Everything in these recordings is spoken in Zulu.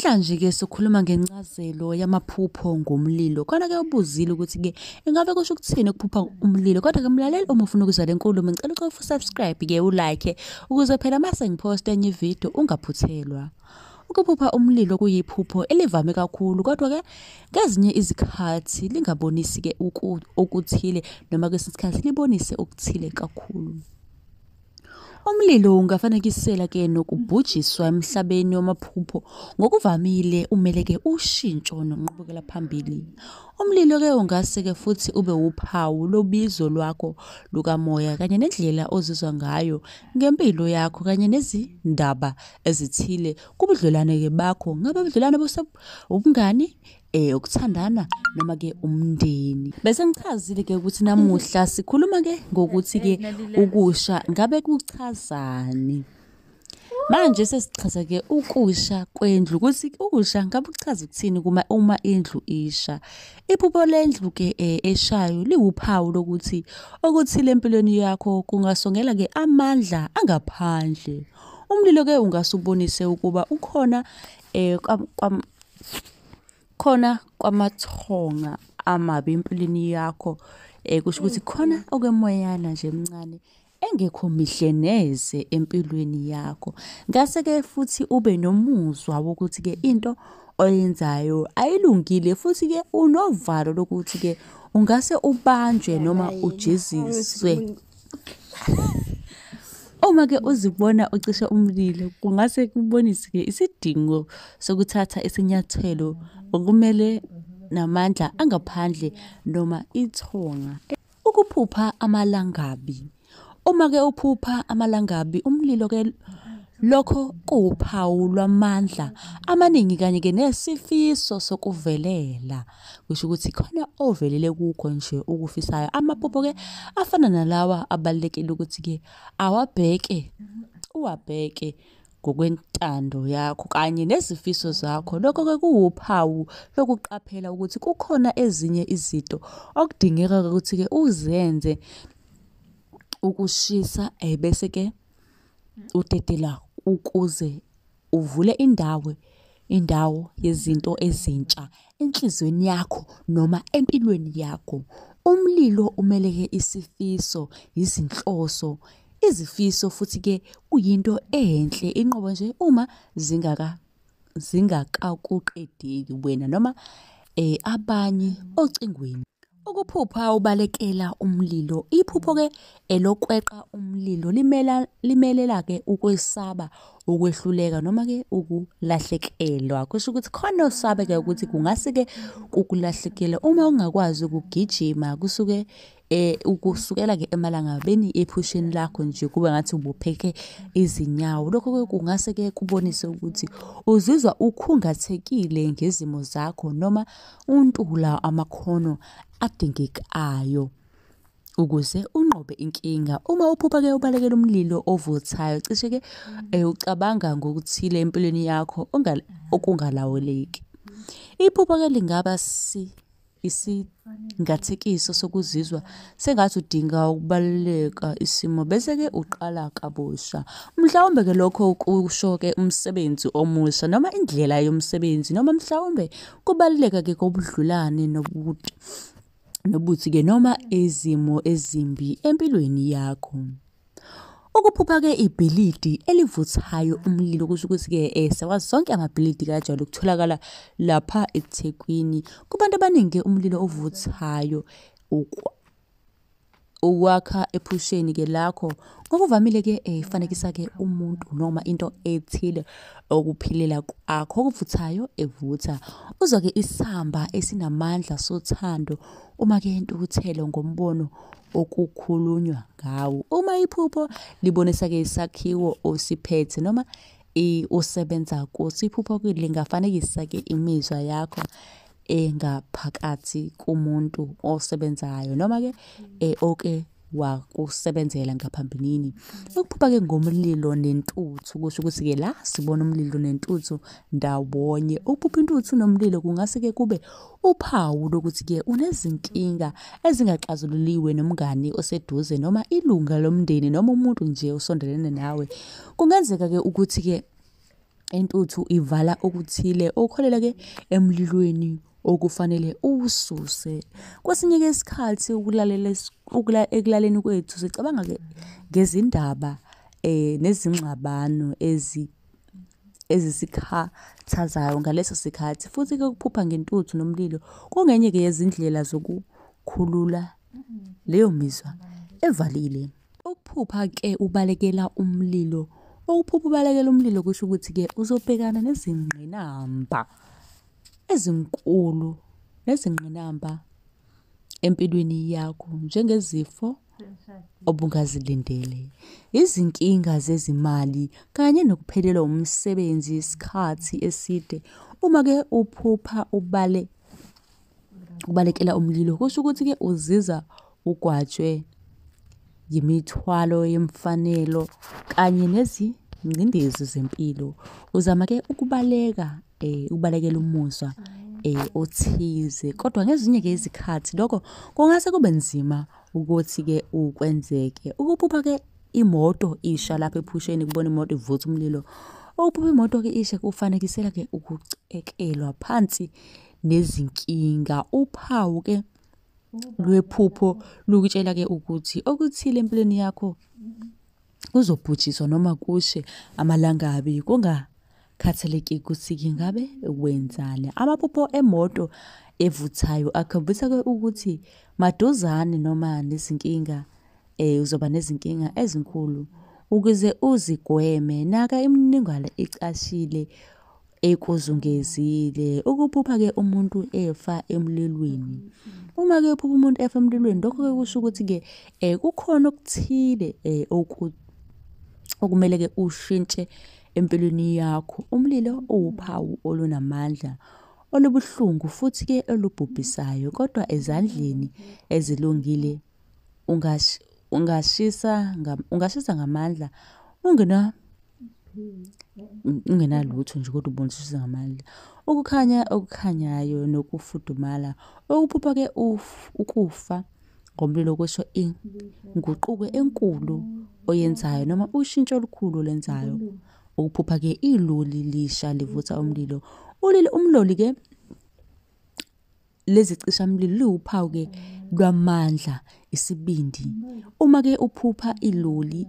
Namhlanje-ke sokhuluma ngencazelo yamaphupho ngomlilo. Khona-ke ubuzile ukuthi-ke ingabe kusho ukuthini ukuphupha umlilo. Kodwa-ke mlaleli uma ufuna ukuzwa le nkulumo ngicela ucofa usubscribe-ke ulike ukuze phela uma sengiphosta enye ividiyo ungaphuthelwa. Ukuphupha umlilo kuyiphupho elivame kakhulu kodwa-ke ngezinye izikhathi lingabonisi-ke okuthile noma kwesinye isikhathi libonise okuthile kakhulu. Umlilo ungafanekisela ke nokubhujiswa emhlabeni wamaphupho. Ngokuvamile umele ke ushintsho nonqubekela phambili. Umlilo ke ungase ke futhi ube wuphawu lobizo lwakho lukamoya kanye nendlela ozizwa ngayo ngempilo yakho kanye nezindaba ezithile kubudlelwane ke bakho. Ngabe ubudlelwane obungani, eh ukuthandana noma ke umndeni bese ngichazile ke ukuthi namuhla sikhuluma ke ngokuthi ke ukusha ngabe kuchazani manje sesichaza ke ukusha kwendlu ukuthi ukusha ngabe kuchaza ukuthini kuma uma indlu isha iphupho lendlu ke eh, eshayo liwuphawu lokuthi okuthile empilweni yakho kungasongela ke amandla angaphandle umlilo ke ungase ubonise ukuba ukhona eh kwam khona kwamathonga amabi empilweni yakho eh kusho ukuthi khona okwemoyana nje emncane engekho mihle neze empilweni yakho ngase ke futhi ube nomuzwa wokuthi ke into oyenzayo ayilungile futhi ke unovalo lokuthi ke ungase ubanjwe noma ujeziswe Uma ke uzibona ucishe umlilo kungase kubonise ke isidingo sokuthatha isinyathelo okumele namandla angaphandle noma ithonga. Ukuphupha amalangabi. Uma ke uphupha amalangabi umlilo ke lokho kuwuphawu lwamandla amaningi kanye ke nesifiso sokuvelela. kusho ukuthi khona ovelele kukho nje ukufisayo amaphupho ke afana nalawa abalekile ukuthi ke awabheke uwabheke ngokwentando yakho kanye nezifiso zakho lokho ke kuwuphawu lokuqaphela ukuthi kukhona ezinye izinto okudingeka ukuthi ke uzenze ukushisa ebese eh, ke udedela ukuze Uvule indawo indawo yezinto ezintsha enhlizweni yakho noma empilweni yakho. Umlilo umeleke isifiso, izinhloso, izifiso futhi-ke kuyinto enhle inqobo nje uma zingaka zingakakuqedeli wena noma eh, abanye ocingweni. Ukuphupha ubalekela umlilo. Iphupho-ke elokweqa umlilo limela limelela-ke ukwesaba, ukwehluleka noma-ke ukulahlekelwa. Kusho ukuthi khona osabe-ke ukuthi kungase-ke kukulahlekele uma ungakwazi ukugijima kusuke eh ukusukela ke emalangabeni ephusheni lakho nje kube ngathi ubopheke izinyawo lokho ke kungase ke kubonise ukuthi uzizwa ukhungathekile ngezimo zakho noma Untula amakhono adingekayo ukuze unqobe inkinga. Uma uphupha-ke ubalekela umlilo ovuthayo, cishe-ke um ucabanga ngokuthile empilweni yakho okungalawuleki. Iphupha-ke lingaba si isingathekiso sokuzizwa sengathi udinga ukubaluleka isimo bese-ke uqala kabusha. Mhlawumbe-ke lokho kusho-ke umsebenzi omusha noma indlela yomsebenzi noma mhlawumbe Kubaluleka ke kobudlulane nobuthi nobuthi ke noma izimo ezimbi empilweni yakho. Ukuphupha ke ibhilidi elivuthayo umlilo kusho ukuthi ke eh sawazi sonke amabhilidi kajwayele ukutholakala lapha eThekwini. Kubantu abaningi ke umlilo ovuthayo ukwa ukwakha ephusheni ke lakho ngokuvamile ke eh, ifanekisa ke umuntu noma into ethile okuphilela kwakho okuvuthayo evutha uzwa ke isamba esinamandla sothando uma ke intukuthelo ngombono okukhulunywa ngawo uma iphupho libonisa ke isakhiwo osiphethe noma usebenza kusiphupho lingafanekisa ke imizwa yakho engaphakathi kumuntu osebenzayo noma ke eh, oke wakusebenzela ngaphambilini ukuphupha ke ngomlilo nentuthu kusho ukuthi ke la sibona umlilo nentuthu ndawonye ukuphupha intuthu nomlilo kungase ke kube uphawu lokuthi ke unezinkinga ezingaxazululiwe nomngani oseduze noma ilunga lomndeni noma umuntu nje osondelene nawe kungenzeka ke ukuthi ke intuthu ivala okuthile okuholela ke emlilweni okufanele uwususe. Kwesinye ke isikhathi ukulalela ekulaleni kwethu sicabanga ke ngezindaba eh, nezingxabano ezi ezisikhathazayo ngaleso sikhathi futhi ke ukuphupha ngentuthu nomlilo kungenye ke yezindlela zokukhulula leyo mizwa evalile. Ukuphupha ke ubalekela umlilo. Ukuphupha ubalekela umlilo kusho ukuthi ke uzobhekana nezingqinamba ezinkulu nezingqinamba empilweni yakho njengezifo obungazilindele, izinkinga zezimali kanye nokuphelelwa umsebenzi isikhathi eside. Uma ke uphupha ubale ukubalekela umlilo kusho ukuthi-ke uziza ugwatshwe yimithwalo yemfanelo kanye nezingcindezi zempilo uzama-ke ukubaleka um ukubalekela umuzwa um othize kodwa ngezinye-ke izikhathi lokho kungase kube nzima ukuthi-ke ukwenzeke ukuphupha-ke imoto isha lapho ephusheni kubona imoto ivutha umlilo ukuphupha imoto-ke ishe kufanekisela-ke ukucekelwa phansi nezinkinga. Uphawu-ke lwephupho lukutshela-ke ukuthi okuthile empilweni yakho kuzobhujiswa noma kushe amalangabi kungakhathaleki ukuthi kingabe wenzani. Amaphupho emoto evuthayo akhombisa-ke ukuthi maduzane noma nezinkinga um uzoba nezinkinga ezinkulu. Ukuze uzigweme, naka imininingwane ecashile ekuzungezile ukuphupha ke umuntu efa emlilweni uma ke uphupha umuntu efa emlilweni lokho ke kusho ukuthi ke eh kukhona okuthile eh okumele ke ushintshe empilweni yakho umlilo uwuphawu olunamandla olubuhlungu futhi ke olubhubhisayo kodwa ezandleni ezilungile ungash, ungashisa ngam, ungashisa ngamandla ungena ungenalutho nje kodwa ubonisisa ngamandla ukukhanya okukhanyayo nokufudumala okuphupha ke ukufa ngomlilo kwesho inguquko enkulu oyenzayo noma ushintsho olukhulu olenzayo ukuphupha ke iloli lisha livutha umlilo ulile umloli ke Lezi cishamlilo liwuphawu-ke lwamandla, isibindi. Uma-ke uphupha iloli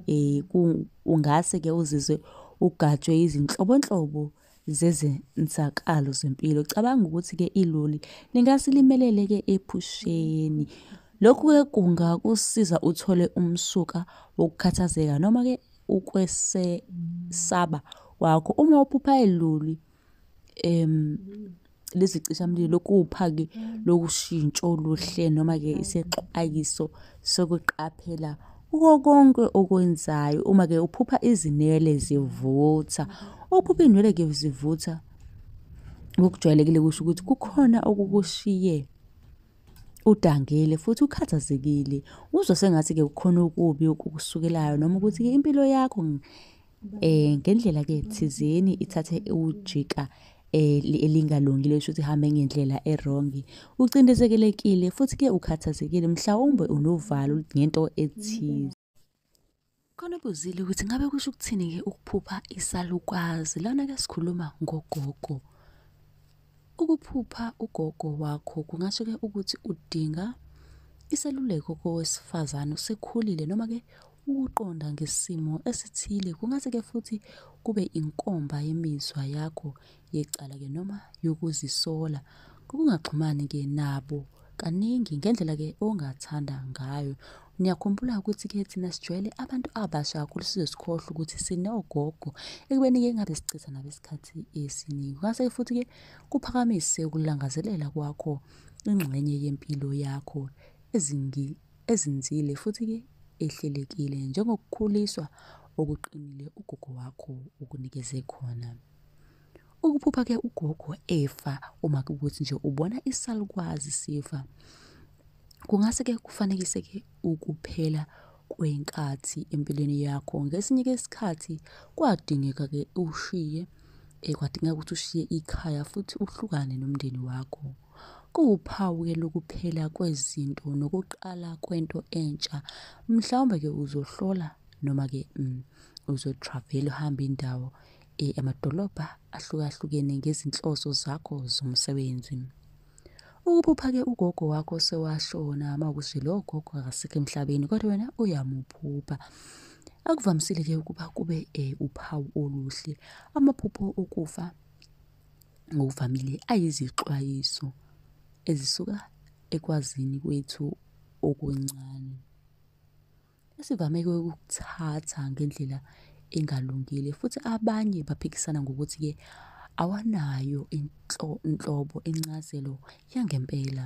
um ungase-ke uzizwe ugajwe izinhlobonhlobo zezenzakalo zempilo. Cabanga ukuthi-ke iloli lingase limelele-ke ephusheni. Lokhu-ke kungakusiza uthole umsuka wokukhathazeka noma-ke ukwesesaba kwakho. Uma uphupha iloli em lezicishamlilo kuwuphaki lokushintsho oluhle noma-ke isexwayiso sokuqaphela kuko konke okwenzayo uma-ke uphupha izinwele zivutha ukuphupha iy'nwele-ke zivutha ngokujwayelekile kusho ukuthi kukhona okukushiye udangele futhi ukhathazekile uzwa sengathi-ke kukhona okubi okukusukelayo noma ukuthi-ke impilo yakho Eh ngendlela ke thizeni ithathe ujika eh, elingalungile esho ukuthi hambe ngendlela erongi ucindezekelekile futhi ke ukhathazekile mhlawumbe unovalo ngento ethize khona buzile ukuthi ngabe kusho ukuthini ke ukuphupha isalukwazi lana ke sikhuluma ngogogo Ukuphupha ugogo wakho kungasho ke ukuthi udinga iseluleko kowesifazane usekhulile noma ke ukuqonda ngesimo esithile kungase ke futhi kube inkomba yemizwa yakho yecala ke noma yokuzisola ngokungaxhumani ke nabo kaningi ngendlela ke ongathanda ngayo Ngiyakhumbula ukuthi ke thina sijwayele abantu abasha kakhulu size sikhohlwe ukuthi sinogogo ekubeni ke ngabe sichitha nabo isikhathi esiningi. Ngase futhi ke kuphakamise ukulangazelela kwakho ingxenye yempilo yakho ezingi ezinzile futhi ke ehlelekile njengokukhuliswa okuqinile ugogo wakho okunikeze khona. Ukuphupha ke ugogo efa uma kukuthi nje ubona isalukwazi sifa. Kungase ke kufanekise ke ukuphela kwenkathi empilweni yakho. Ngesinye ke isikhathi kwadingeka ke ushiye eh, kwadingeka ukuthi ushiye ikhaya futhi uhlukane nomndeni wakho. Kuwuphawu ke lokuphela kwezinto nokuqala kwento entsha. Mhlawumbe ke uzohlola noma ke mm, uzotravel uhambe indawo e, amadolobha ahlukahlukene ngezinhloso zakho zomsebenzi ukuphupha-ke ugogo wakho sewashona uma ukuthi lowo gogo akasekho emhlabeni kodwa wena uyamuphupha akuvamisile-ke ukuba kube um uphawu oluhle amaphupho okufa ngokuvamile ayizixwayiso ezisuka ekwazini kwethu okuncane esivame ukuthatha ngendlela engalungile futhi abanye baphikisana ngokuthi-ke awanayo inhlobo incazelo yangempela.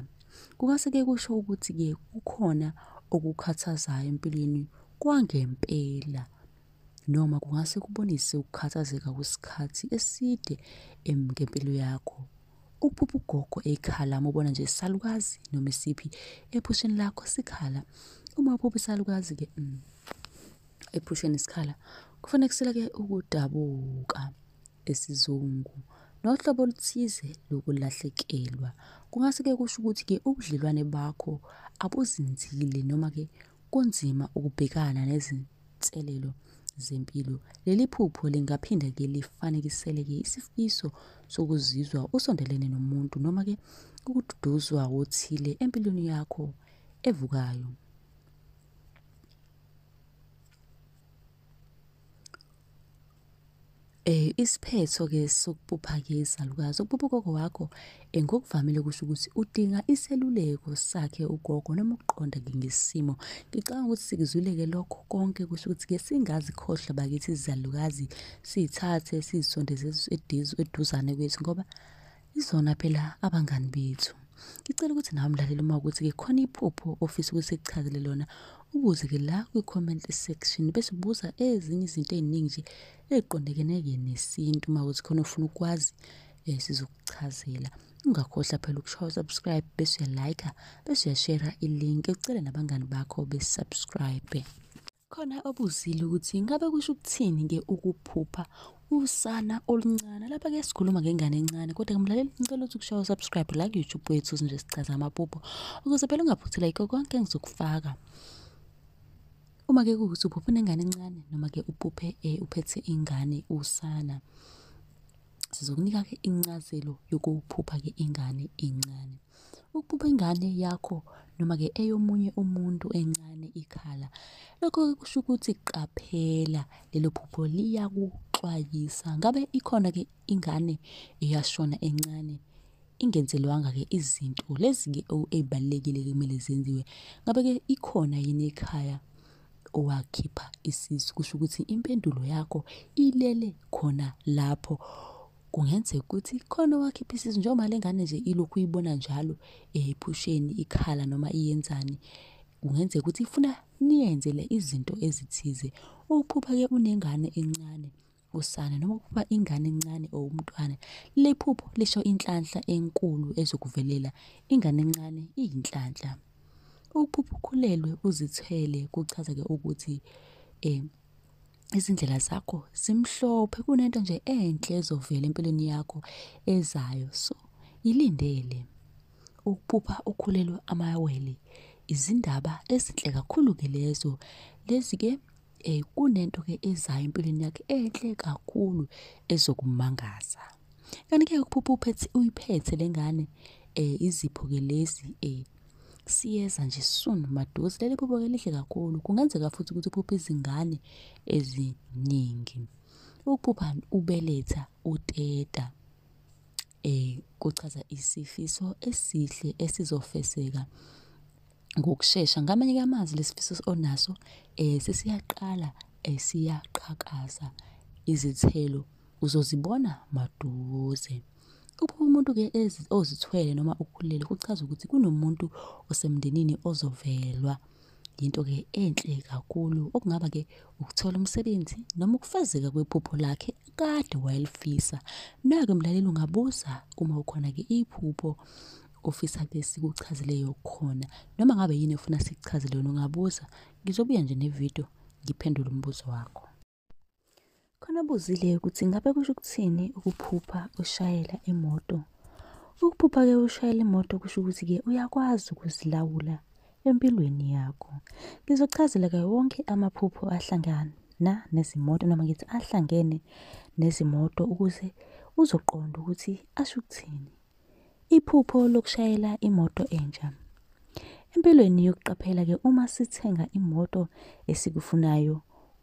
Kungase-ke kusho ukuthi-ke kukhona okukhathazayo empilweni kwangempela noma kungase kubonise ukukhathazeka kwesikhathi eside ngempilo yakho Ukuphupha ugogo ekhala mubona nje salukazi noma isiphi ephusheni lakho sikhala. Uma uphupha isalukazi ke mm, ephusheni sikhala kufanekisela ke ukudabuka esizungu nohlobo oluthize lokulahlekelwa. Kungase ke kusho ukuthi ke ubudlelwane bakho abuzinzile noma ke Kunzima ukubhekana nezinselelo zempilo. Leli phupho lingaphinde-ke lifanekiseleke isifiso sokuzizwa usondelene nomuntu noma-ke ukududuzwa wothile empilweni yakho evukayo. Eh isiphetho ke sokubupha ke izalukazi ukubupa ugogo wakho eh, ngokuvamile kusho ukuthi udinga iseluleko sakhe ugogo noma ukuqonda ke ngesimo ngicabanga ukuthi sikuzwile ke lokho konke kusho ukuthi ke singazikhohlwa bakithi izalukazi sithathe sizisondeze eduzane kwethu ngoba Izona phela abangani bethu. Ngicela ukuthi nawe mlaleli uma ukuthi ke khona iphupho ofisa ukuthi sikuchazele lona ubuze ke la kwi-comment section bese ubuza ezinye izinto ey'ningi nje ey'qondekene-ke nesintu uma ukuthi khona ofuna ukwazi um sizokuchazela ungakhohlwa phela ukushawa subscribe bese uyalayikha bese uyashera ilink ucele nabangani bakho besubscribe Khona obuzile ukuthi ngabe kusho ukuthini ke ukuphupha usana oluncane lapha ke sikhuluma ngengane encane kodwa kumlaleli ngicela ukuthi kushawa subscribe la ku YouTube wethu nje sichaza amaphupho ukuze phela ungaphuthela ikho konke engizokufaka uma ke kuwukuthi uphuphe nengane encane noma ke uphuphe eh, uphethe ingane usana sizokunika ke incazelo yokuphupha ke ingane encane Ukuba ingane yakho noma-ke eyomunye umuntu encane ikhala, lokho-ke kusho ukuthi qaphela lelo phupho liyakuxwayisa. Ngabe ikhona-ke ingane eyashona encane ingenzelwanga-ke izinto lezi-ke ey'balulekile kumele zenziwe. Ngabe-ke ikhona yini ekhaya owakhipha isisu, kusho ukuthi impendulo yakho ilele khona lapho. kungenzeka ukuthi khona owakhipha isisu njengoba le ngane nje ilokhu uyibona njalo ephusheni ikhala noma iyenzani kungenzeka ukuthi ifuna niyenzele izinto ezithize uphupha-ke unengane encane usana noma ukuba ingane encane or umntwana lephupho lisho inhlanhla enkulu ezokuvelela ingane encane iyinhlanhla ukuphupha ukhulelwe uzithwele kuchaza-ke ukuthi um izindlela zakho zimhlophe kunento nje enhle ezovela empilweni yakho ezayo so ilindele ukuphupha ukhulelwe amawele izindaba ezinhle kakhulu ke lezo lezi ke eh kunento ke ezayo empilweni yakhe enhle kakhulu ezokumangaza kanti ke ukuphupha uphethe uyiphethe lengane eh izipho ke lezi eh siyeza nje soon maduze leli phupho ke lihle kakhulu kungenzeka futhi ukuthi uphuphe izingane eziningi ukuphupha ubeletha uteta eh kuchaza isifiso esihle esizofeseka ngokushesha ngamanye kamazwi lesifiso onaso eh sesiyaqala esiyaqhakaza eh, izithelo uzozibona maduze Ukuba umuntu-ke ozithwele noma ukhulele kuchaza ukuthi kunomuntu osemndenini ozovelwa yinto-ke enhle kakhulu okungaba-ke ukuthola umsebenzi noma ukufezeka kwephupho lakhe kade wayelifisa. Nake mlaleli ungabuza uma ukhona-ke iphupho ofisa ke sikuchazileyo khona noma ngabe yini ofuna sikuchazele yona ungabuza ngizobuya nje nevidiyo ngiphendule umbuzo wakho. Khona buzile ukuthi ngabe kusho ukuthini ukuphupha ushayela imoto. Ukuphupha-ke ushayela imoto kusho ukuthi-ke uyakwazi ukuzilawula empilweni yakho. Ngizochazela-ke wonke amaphupho ahlangana nezimoto noma ngithi ahlangene nezimoto ukuze uzoqonda ukuthi asho ukuthini. Iphupho lokushayela imoto entsha. Empilweni yokuqaphela ke uma sithenga imoto esikufunayo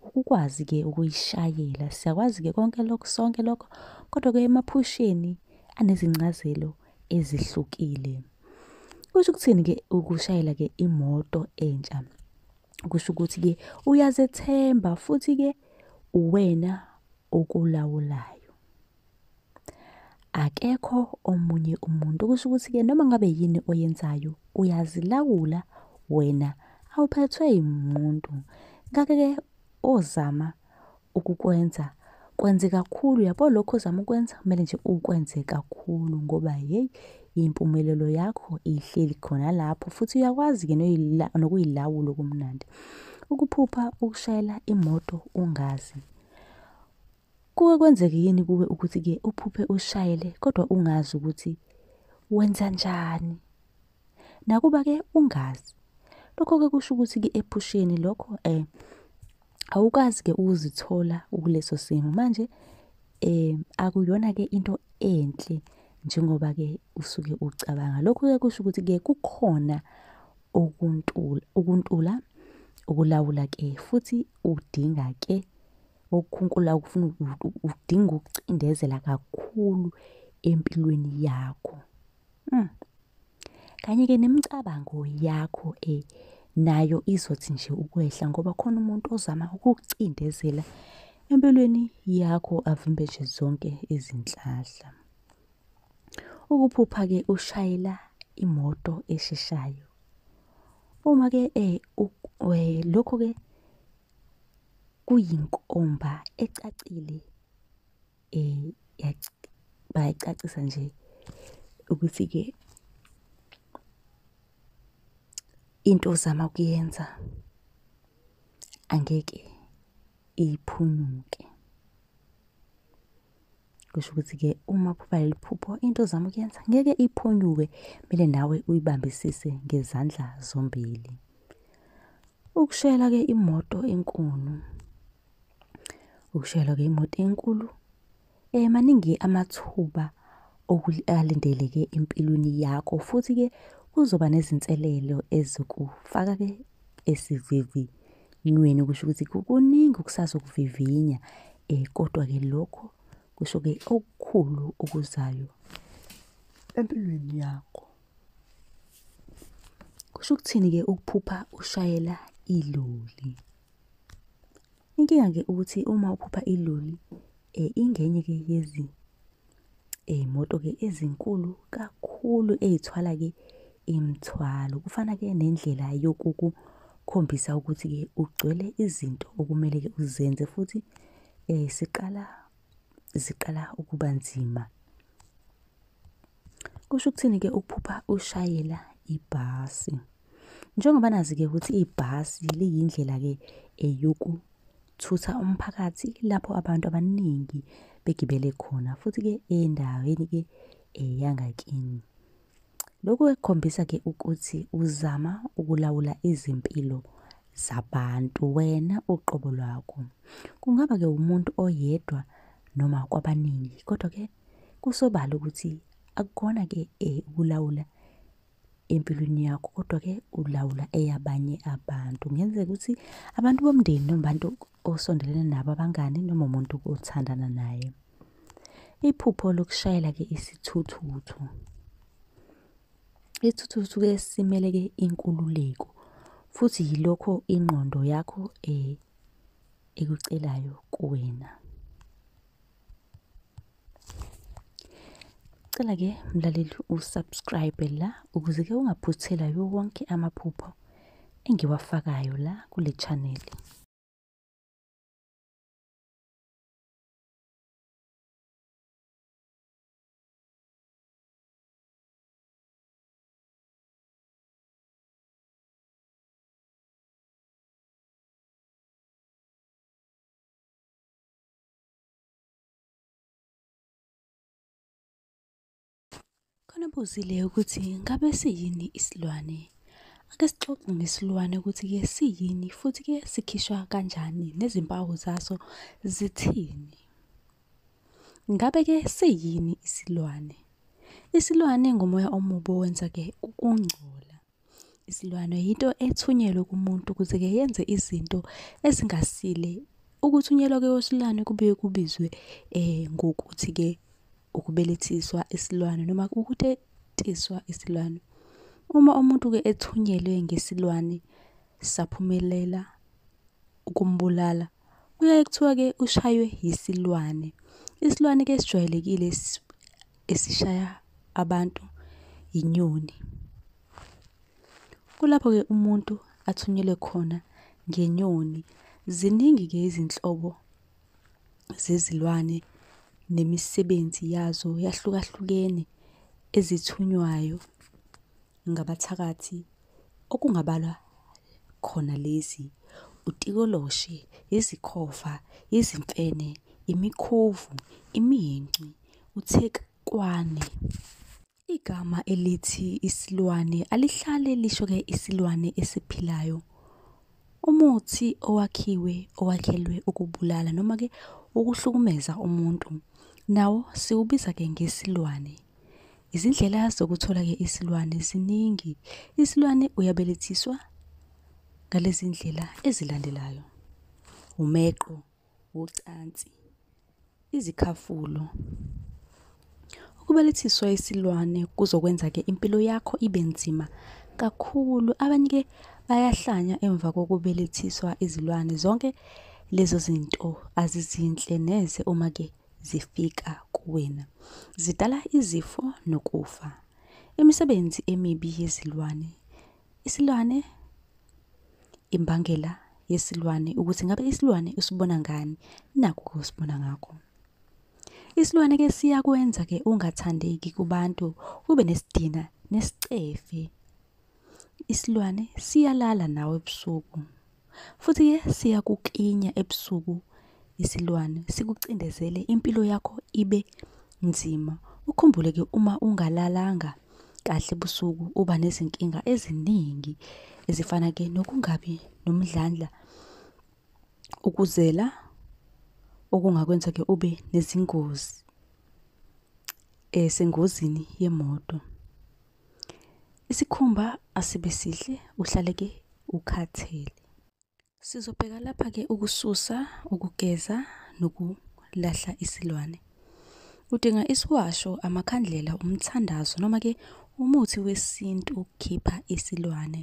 ukukwazi ke ukuyishayela siyakwazi ke konke lokho sonke lokho kodwa ke emaphusheni anezincazelo ezihlukile. Kusho ukuthini ke ukushayela ke imoto entsha? Kusho ukuthi ke uyazethemba futhi ke uwena okulawulayo. akekho omunye umuntu kusho ukuthi-ke noma ngabe yini oyenzayo uyazilawula wena awuphethwe yimuntu ngakho-ke ozama ukukwenza kwenze kakhulu yabo lokho ozama ukwenza kumele nje ukwenze kakhulu ngoba yeyi impumelelo yakho ihleli khona lapho futhi uyakwazi-ke nokuyilawula okumnandi ukuphupha ukushayela imoto ungazi Kuke kwenzeke yini kuwe ukuthi-ke uphuphe ushayele kodwa ungazi ukuthi wenza njani? Nakuba-ke ungazi, lokho-ke kusho ukuthi-ke ephusheni lokho um awukazi-ke ukuzithola ukuleso simo. Manje um akuyona-ke into enhle njengoba-ke usuke ucabanga. Lokho-ke kusho ukuthi-ke kukhona ukuntula ukulawula-ke futhi udinga-ke. Ukukhunkula ukufuna udinga ukucindezela kakhulu empilweni yakho. Hmm. Kanye-ke nemicabango yakho eh, nayo izothi nje ukwehla ngoba khona umuntu ozama ukukucindezela empilweni yakho avimbe nje zonke izinhlahla. Ukuphupha-ke ushayela imoto esheshayo. Uma-ke eh, eh, lokho-ke kuyinkomba ecacile eh bayacacisa nje ukuthi ke into ozama kuyenza angeke iphunyuke. kusho ukuthi-ke uma phupha leli phupho into ozama ukuyenza ngeke iphunyuke kumele nawe uyibambisise ngezandla zombili ukushayela-ke imoto enkulu ukushayelwa-ke imoto enkulu um maningi amathuba alindeleke empilweni yakho futhi-ke kuzoba nezinselelo ezokufaka-ke esivivinyweni kusho ukuthi kukuningi okusazokuvivinya um kodwa-ke lokho kusho-ke okukhulu okuzayo empilweni yakho kusho ukuthini-ke ukuphupha ushayela iloli inkinga-ke ukuthi uma uphupha iloli um ingenye-ke yezi Iy'moto ke ezinkulu kakhulu ey'thwala ke imithwalo. Kufana ke nendlela yokukukhombisa ukuthi ke ugcwele izinto okumele ke uzenze futhi eh siqala ziqala ukuba nzima. Kusho ukuthini ke ukuphupha ushayela ibhasi? Njengoba nazi-ke ukuthi ibhasi liyindlela-ke eyokuthutha umphakathi lapho abantu abaningi begibele khona futhi-ke endaweni-ke eyangakini. Lokhu kukhombisa-ke ukuthi uzama ukulawula izimpilo zabantu wena uqobo lwakho. Kungaba-ke umuntu oyedwa noma kwabaningi kodwa-ke kusobala ukuthi akukona-ke ukulawula empilweni yakho kodwa-ke ulawula eyabanye abantu kungenzeka ukuthi abantu bomndeni noma abantu osondelene nabo abangani noma umuntu othandana naye iphupho lokushayela-ke isithuthuthu isithuthuthu ke simele-ke inkululeko futhi yilokho ingqondo yakho um ekucelayo kuwena Cela ke mlaleli usubscribe la ukuze ke ungaphuthelwa yiwo wonke amaphupho engiwafakayo la kule channel. Khona buzile ukuthi ngabe siyini isilwane? Ake sixoxe ngesilwane ukuthi-ke siyini futhi-ke sikhishwa kanjani nezimpawu zaso zithini. Ngabe-ke siyini isilwane? Isilwane ngumoya omubi owenza-ke ukungcola. Isilwane yinto ethunyelwe kumuntu ukuze-ke yenze izinto ezingasile. Ukuthunyelwa kwesilwane kubuye kubizwe ngokuthi-ke ukubelethiswa isilwane noma ukutetiswa isilwane. Uma umuntu-ke ethunyelwe ngesilwane saphumelela ukumbulala, Kuyaye kuthiwa-ke ushaywe yisilwane. Isilwane-ke esijwayelekile esishaya abantu yinyoni. Kulapho-ke umuntu athunyelwe khona ngenyoni. Ziningi-ke izinhlobo zezilwane nemisebenzi yazo yahlukahlukene ezithunywayo ngabathakathi okungabalwa khona lezi, utikoloshe, izikhova, izimfene, imikhovu, iminci, uthekwane. Igama elithi isilwane alihlale lisho-ke isilwane esiphilayo Umuthi owakhiwe owakhelwe ukubulala noma ke ukuhlukumeza umuntu nawo siwubiza ke ngesilwane. Izindlela zokuthola ke isilwane ziningi. Isilwane uyabelethiswa ngalezi ndlela ezilandelayo. Umeqo wocansi, izikhafulo. Ukubelethiswa isilwane kuzokwenza-ke impilo yakho ibe nzima kakhulu. Abanye-ke bayahlanya emva kokubelethiswa izilwane. Zonke lezo zinto azizinhle neze uma-ke zifika kuwena. Zidala izifo nokufa. Imisebenzi emibi yezilwane Isilwane imbangela yesilwane ukuthi ngabe isilwane usibona ngani nakho kusibona ngakho. Isilwane ke siyakwenza ke ungathandeki kubantu ube nesidina nesicefe. Isilwane siyalala nawe ebusuku futhi ke siyakuklinya ebusuku isilwane sikucindezele impilo yakho ibe nzima ukhumbule ke uma ungalalanga kahle busuku uba nezinkinga eziningi ezifana ke nokungabi nomdlandla ukuzela okungakwenza ke ube nezingozi esengozini yemoto Isikhumba asibe sihle uhlaleke ukhathele. Sizobheka lapha ke ukususa, ukugeza nokulahla isilwane. Udinga isiwasho, amakhandlela, umthandazo noma ke umuthi wesintu ukukhipha isilwane.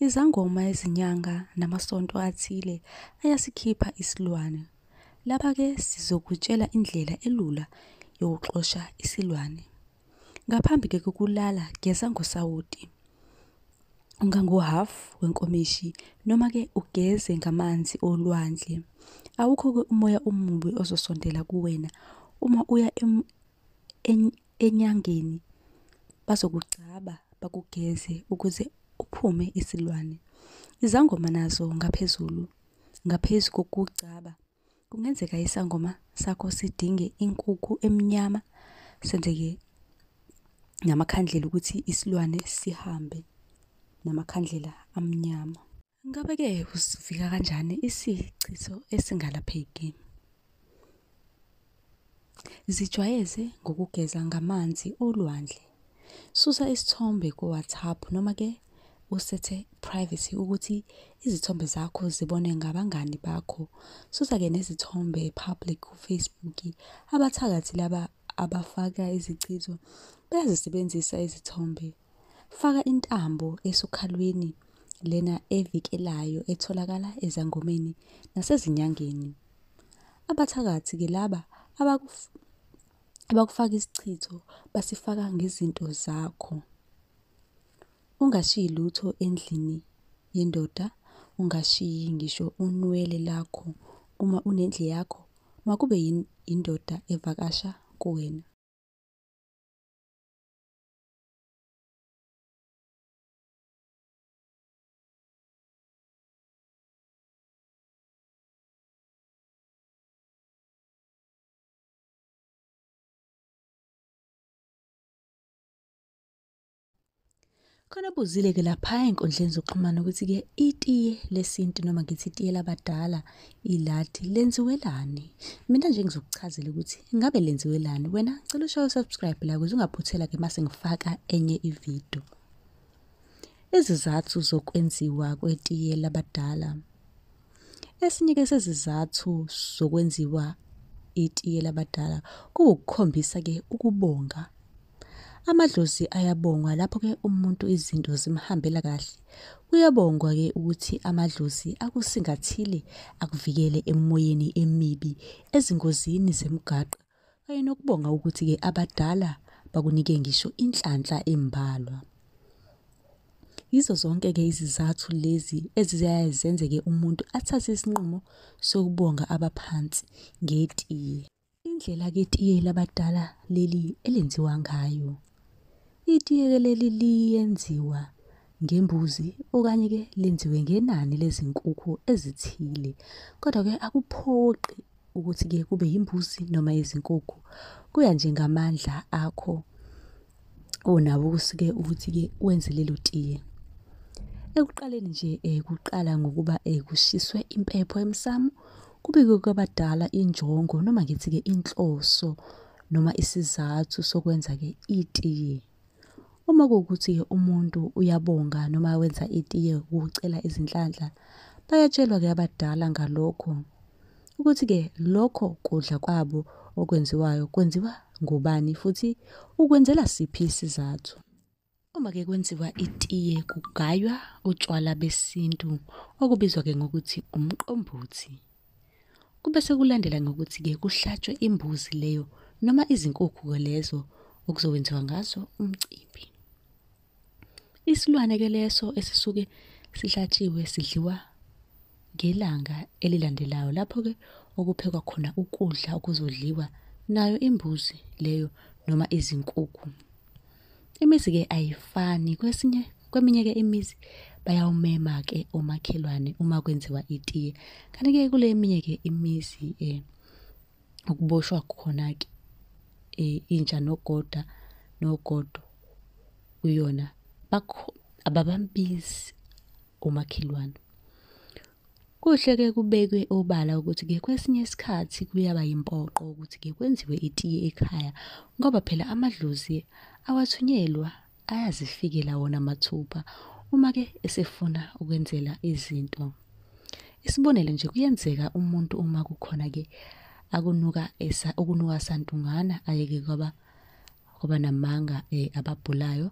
Izangoma ezinyanga namasonto athile ayasikhipha isilwane. Lapha ke sizokutshela indlela elula yokuxosha isilwane. Ngaphambi ke kokulala geza ngosawoti ungangohhafu wenkomishi noma ke ugeze ngamanzi olwandle. Awukho-ke umoya omubi ozosondela kuwena uma uya enyangeni bazokugcaba bakugeze ukuze uphume isilwane. Izangoma nazo ngaphezulu ngaphezu kokugcaba Kungenzeka isangoma sakho sidinge inkukhu emnyama senzeke namakhandlela ukuthi isilwane sihambe namakhandlela amnyama. Ngabe-ke usivika kanjani isichiso esingalapheki? Zijwayeze ngokugeza ngamanzi olwandle. Susa isithombe ku-WhatsApp noma ke usethe privacy ukuthi izithombe zakho zibone ngabangani bakho. Susa-ke nezithombe public ku-Facebook. Abathakathi laba abafaka izichitho bayazisebenzisa izithombe Faka intambo esokhalweni lena evikelayo etholakala ezangomeni nasezinyangeni. Abathakathi ke laba abakufaka isichitho basifaka ngezinto zakho. Ungashiyi lutho endlini yendoda, ungashiyi ngisho unwele lakho uma unendle yakho makube yindoda evakasha kuwena. khona buzile-ke lapha ey'nkundleni zokuxhumana ukuthi-ke itiye lesintu noma ngithi itiye labadala Iladi lenziwelani? Mina nje ngizokuchazela ukuthi ngabe lenziwelani. Wena ngicela ushaye subscribe la ukuze ungaphuthela ke mase ngifaka enye ivideo. Izizathu zokwenziwa kwetiye labadala. Esinye ke sezizathu zokwenziwa itiye labadala kuwukukhombisa ke ukubonga Amadlozi ayabongwa lapho ke umuntu izinto zimhambela kahle. Kuyabongwa ke ukuthi amadlozi akusingathile akuvikele emoyeni emibi, ezingozini zemgaqo kanye nokubonga ukuthi ke abadala bakunike ngisho inhlanhla embalwa. Yizo zonke ke izizathu lezi eziyaye zenzeke umuntu athathe isinqumo sokubonga abaphansi ngetiye. Indlela ke tiye labadala leli elenziwa ngayo. Itiye ke leli liyenziwa ngembuzi okanye ke lenziwe ngenani lezinkukhu ezithile. Kodwa ke akuphoqi ukuthi ke kube yimbuzi noma izinkukhu. Kuya nje ngamandla akho. onabo kusuke ukuthi-ke wenze lelo tiye. Ekuqaleni nje um kuqala ngokuba um kushiswe impepho emsamo, kubikwe kwabadala injongo noma ngithi-ke inhloso noma isizathu sokwenza-ke itiye. Uma kuwukuthi-ke umuntu uyabonga noma wenza itiye ukucela izinhlanhla, bayatshelwa-ke abadala ngalokho. ukuthi-ke lokho kudla kwabo okwenziwayo kwenziwa ngubani futhi ukwenzela siphi isizathu. Uma-ke kwenziwa itiye kugaywa utshwala besintu okubizwa-ke ngokuthi umqombothi. Kube sekulandela ngokuthi-ke kuhlatshwe imbuzi leyo noma izinkukhu-ke lezo okuzokwenziwa ngazo umcimbi. Isilwane ke leso esisuke sihlatshiwe sidliwa ngelanga elilandelayo lapho ke okuphekwa khona ukudla okuzodliwa nayo imbuzi leyo noma izinkukhu. Imizi ke ayifani kwesinye kweminye ke imizi bayawumema ke omakhelwane uma kwenziwa itiye kanti ke kule eminye ke imizi eh ukuboshwa khona-ke eh, intsha nogoda nogodo kuyona bakho ababambizi umakhelwane kuhle ke kubekwe obala ukuthi ke kwesinye isikhathi kuyaba yimpoqo ukuthi ke kwenziwe itiye ekhaya ngoba phela amadlozi awathunyelwa ayazifikela wona mathupha uma ke esefuna ukwenzela izinto isibonelo nje kuyenzeka umuntu uma kukhona ke akunuka esa ukunuka santungana ayeke kwaba kwaba namanga eh, ababhulayo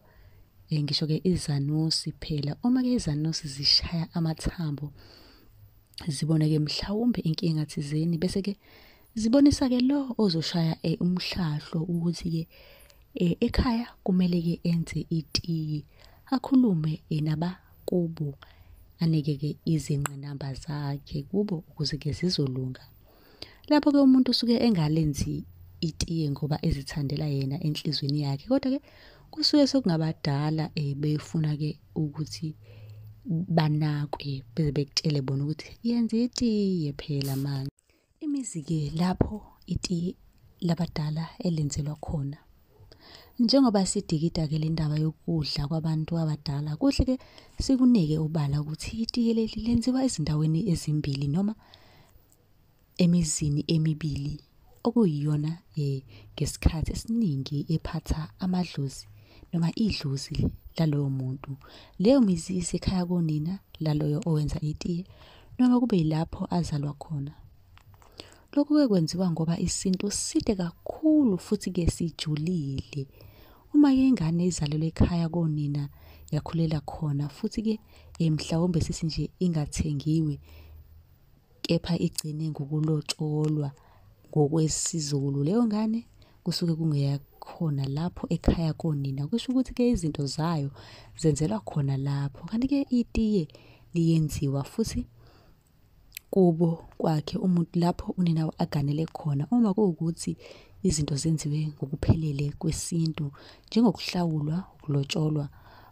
eh, ngisho ke izanusi phela uma ke izanusi zishaya amathambo ziboneke mhlawumbe inkinga thizeni bese ke Zibonisa ke lo ozoshaya eh, umhlahlo ukuthi ke eh, ekhaya kumele ke enze itiyi akhulume eh, naba kubo anike ke izinqinamba zakhe kubo ukuze ke zizolunga. Lapho ke umuntu usuke engalenzi itiye ngoba ezithandela yena enhlizweni yakhe kodwa ke kusuke sekungabadala eh, befuna ke ukuthi banakwe beze bekutshele bona ukuthi yenza itiye phela manje. Imizi-ke lapho iti labadala elenzelwa khona. Njengoba sidikida-ke le ndaba yokudla kwabantu abadala, kuhle-ke sikunike ubala ukuthi itiye leli lenziwa ezindaweni ezimbili noma emizini emibili okuyiyona um ngesikhathi esiningi ephatha amadlozi noma idlozi laloyo muntu. Leyo mizi isekhaya konina laloyo owenza itiye. noma kube yilapho azalwa khona. Lokhu ke kwenziwa ngoba isintu side kakhulu futhi ke sijulile. Uma ke ingane izalelwe ekhaya konina yakhulela khona futhi ke eh, mhlawumbe sithi nje ingathengiwe kepha igcine ngokulotsholwa ngokwesizulu leyo ngane kusuke kungeyakhona lapho ekhaya konina kusho ukuthi ke izinto zayo zenzelwa khona lapho kanti ke itiye liyenziwa futhi kubo kwakhe umuntu lapho unina aganele khona uma kuwukuthi izinto zenziwe ngokuphelele kwesintu njengokuhlawulwa ukulotsholwa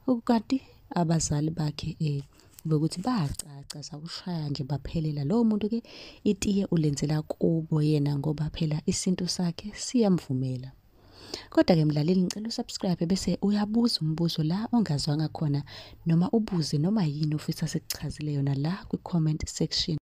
okukanti abazali bakhe eh kube ukuthi bayacaca sakushaya nje baphelela lowo muntu ke itiye ulenzela kubo yena ngoba phela isintu sakhe siyamvumela Kodwa-ke mlaleli ngicela usubscribe bese uyabuza umbuzo la ongazwanga khona noma ubuze noma yini ofisa sikuchazele yona la kwi-comment section.